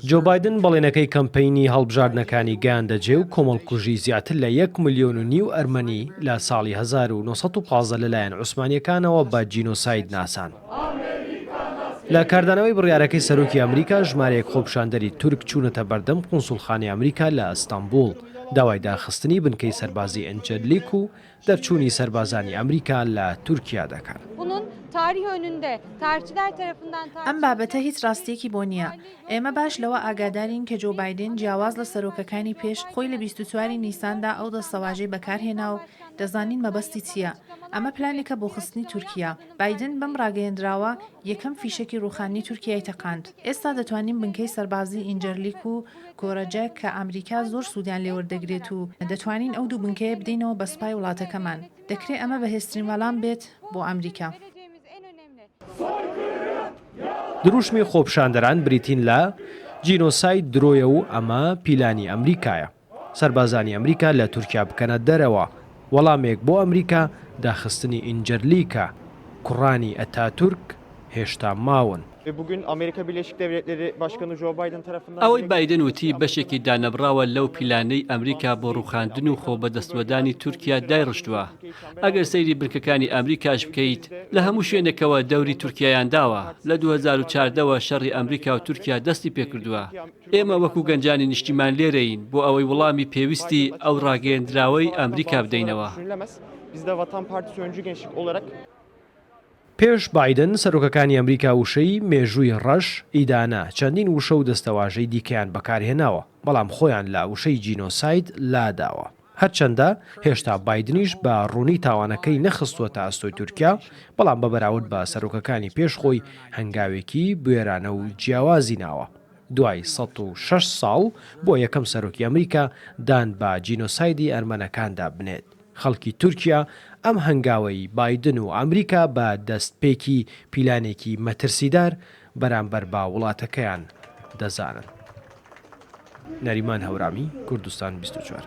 جۆ بایدن بەڵێنەکەی کەمپەینی هەڵبژاردنەکانی گەیاندە جێ و کۆمەڵکوژی زیاتر لە یەک ملیۆن و نیو ئەرمەنی لە ساڵی هەزار و نۆ سەد و پازدە لەلایەن عوسمانییەکانەوە بە جینۆساید ناسان. لە کاردانەوەی بڕیارەکەی سەرۆکی ئەمریکا ژمارەیەک خۆپیشاندەری تورک چوونەتە بەردەم قونسوڵخانەی ئەمریکا لە ئەستەنبوڵ، داوای داخستنی بنکەی سەربازی ئینجەرلیک و دەرچوونی سەربازانی ئەمریکا لە تورکیا دەکەن. ئەم بابەتە هیچ ڕاستییەکی بۆ نییە. ئێمە باش لەوە ئاگادارین کە جۆو بایدن جیاواز لە سەرۆکەکانی پێش، خۆی لە بیست و چوار ی نیساندا ئەو دەستەواژەی بەکارهێنا و دەزانین مەبەستی چییە. ئەمە پلانێکە بۆ خستنی تورکیا. بایدن بەم ڕاگەیەندراوە یەکەم فیشەکی ڕووخاننی تورکیای تەقاند. ئێستا دەتوانین بنکەی سەربازی ئینجەرلیک و کۆرەجەک کە ئامریکا زۆر سوودیان لێ وەردەگرێت و دەتوانین ئەو دوو بنکەیە بدەینەوە بە سوپای وڵاتەکەمان. دەکرێ ئەمە بەهێزترین وەلام بێت بۆ ئامریکا. دروشمی خۆپشاندەران بریتین لە، جینۆساید درۆیە و ئەمە پیلانی ئەمریکایە. سەربازانی ئەمریکا لە تورکیا بکەنە دەرەوە، وەڵامێک بۆ ئەمریکا، داخستنی ئینجەرلیکا، کوڕانی ئەتاتورک هێشتا ماون. ئەوەی بایدن وتی بەشێکی دانەبڕاوە لەو پیلانەی ئەمریکا بۆ ڕووخاندن و خۆبەدەستوەدانی تورکیا دایڕشتووە، ئەگەر سەیری بنکەکانی ئەمریکاش بکەیت لە هەموو شوێنێکەوە دەوری تورکیایان داوە، لە دوو هەزار و چاردە وە شەڕی ئەمریکا و تورکیا دەستی پێکردووە. ئێمە وەکو گەنجانی نیشتیمان لێرەین بۆ ئەوەی وڵامی پێویستی ئەو ڕاگەیەندراوەی ئامریکا بدەینەوە. پێش بایدن، سەرۆکەکانی ئەمریکا وشەی، مێژووی ڕەش، ئیدانە، چەندین وشە و دەستەواژەی دیکەیان بەکارهێناوە، بەڵام خۆیان لە وشەی جینۆساید لاداوە. هەرچەندە هێشتا بایدنیش بە ڕوونی تاوانەکەی نەخستووەتە ئەستۆی تورکیا، بەڵام بە بەراورد بە سەرۆکەکانی پێش خۆی هەنگاوێکی بوێرانە و جیاوازی ناوە. دوای سەد و شەش ساڵ بۆ یەکەم سەرۆکی ئەمریکا دان بە جینۆسایدی ئەرمەنەکاندا بنێت، خەڵکی تورکیا ئەم هەنگاوەی بایدن و ئەمریکا بە دەستپێکی پیلانێکی مەترسیدار بەرامبەر بە وڵاتەکەیان دەزانن. نەریمان هەورامی، کوردستان بیست و چوار.